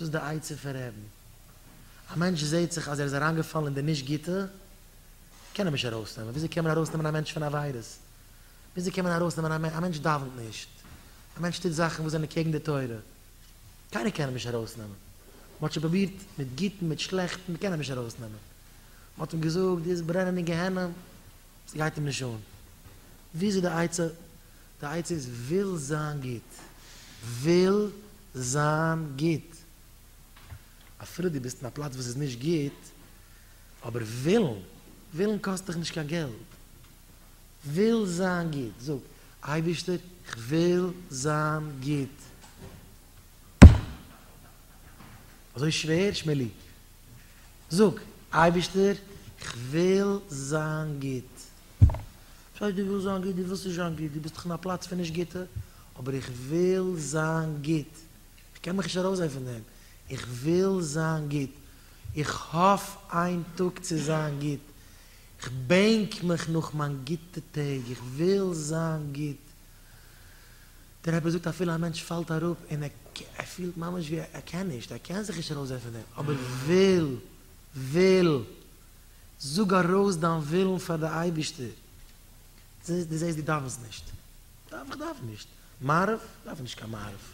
דאס איז די עצה פון רעבן. א מענטש זעהט זיך אז ער איז אריינגעפאלן אין די נישט גוטע, קען ער נישט ארויסנעמען. וויאזוי קען מען ארויסנעמען א מענטש פון עבירות? וויאזוי קען מען ארויסנעמען א מענטש? א מענטש דאווענט נישט, א מענטש טוט זאכן וואס זענען קעגן די תורה, קיינער קען אים נישט ארויסנעמען. מען האט שוין פרובירט מיט גוטן, מיט שלעכטן, מען קען אים נישט ארויסנעמען. מען האט אים געזאגט, דו וועסט ברענען אין גיהנום, ס'גייט אים נישט אן. ווי איז די עצה? די עצה איז וויל זיין גוט. וויל זיין גוט. אפילו דו ביסט אין א פלאץ וואס איז נישט גוט, אבער ווילן, ווילן קאסט דיך נישט קיין געלט. וויל זיין גוט. זאג, אייבערשטער, איך וויל זיין גוט. אזוי שווער, שמואלי? זאג, אייבערשטער, איך וויל זיין גוט. שוין דו ווילסט זיין גוט דו ווילסט נישט זיין גוט דו ביסט דאך אין א פלאץ פון נישט גוטע אבער איך וויל זיין גוט איך קען מיך נישט ארויס זען פון דעם איך וויל זיין גוט איך האף איין טאג צו זיין גוט איך בענק מיך נאך מיין גוטע טעג איך וויל זיין גוט דער רבי זאגט אפילו א מענטש פאלט אראפ און ער פילט ממש ווי ער קען נישט ער קען זיך נישט ארויס זען פון דעם אבער וויל וויל זאג ארויס דיין ווילן פאר די אייבישטער, דו זעסט דו דאווענסט נישט, דאוו איך דאוון נישט, מעריב, דאוו איך נישט קיין מעריב,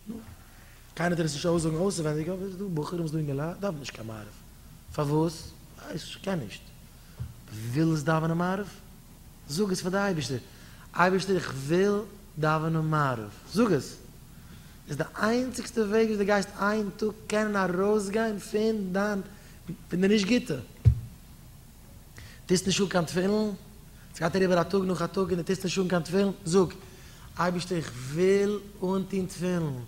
נו, קיינער טאר עס נישט אויסזאגן אויסעווענדיג אבער עס איז דא בחורים וואס דא אין געלעד דאווענען נישט קיין מעריב, פארוואס? ווייס נישט, קען נישט, ווילסט דאווענען מעריב? זאג עס פאר די אייבישטער, אייבישטער איך וויל דאווענען מעריב, זאג עס! איז די איינציגסטע וועג וויאזוי די גייסט איין טאג קענען ארויסגיין פון דיין פון די נישט גוטע. טוסט נישט אן קיין תפילין, סגייט אריבער א טאג נאך א טאג און די טוסט נישט אן קיין תפילין, זאג, אייבערשטער איך וויל אנטון תפילין,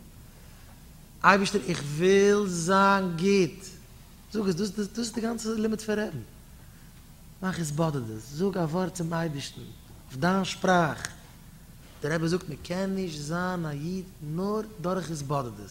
אייבערשטער איך וויל זיין גוט, זאג עס, דאס דאס איז די גאנצע לימוד פון רעדן, מאך התבודדות, זאג א ווארט צום אייבערשטן אויף דיין שפראך, דער רבי זאגט מען קען נישט זיין א איד נאר דורך התבודדות,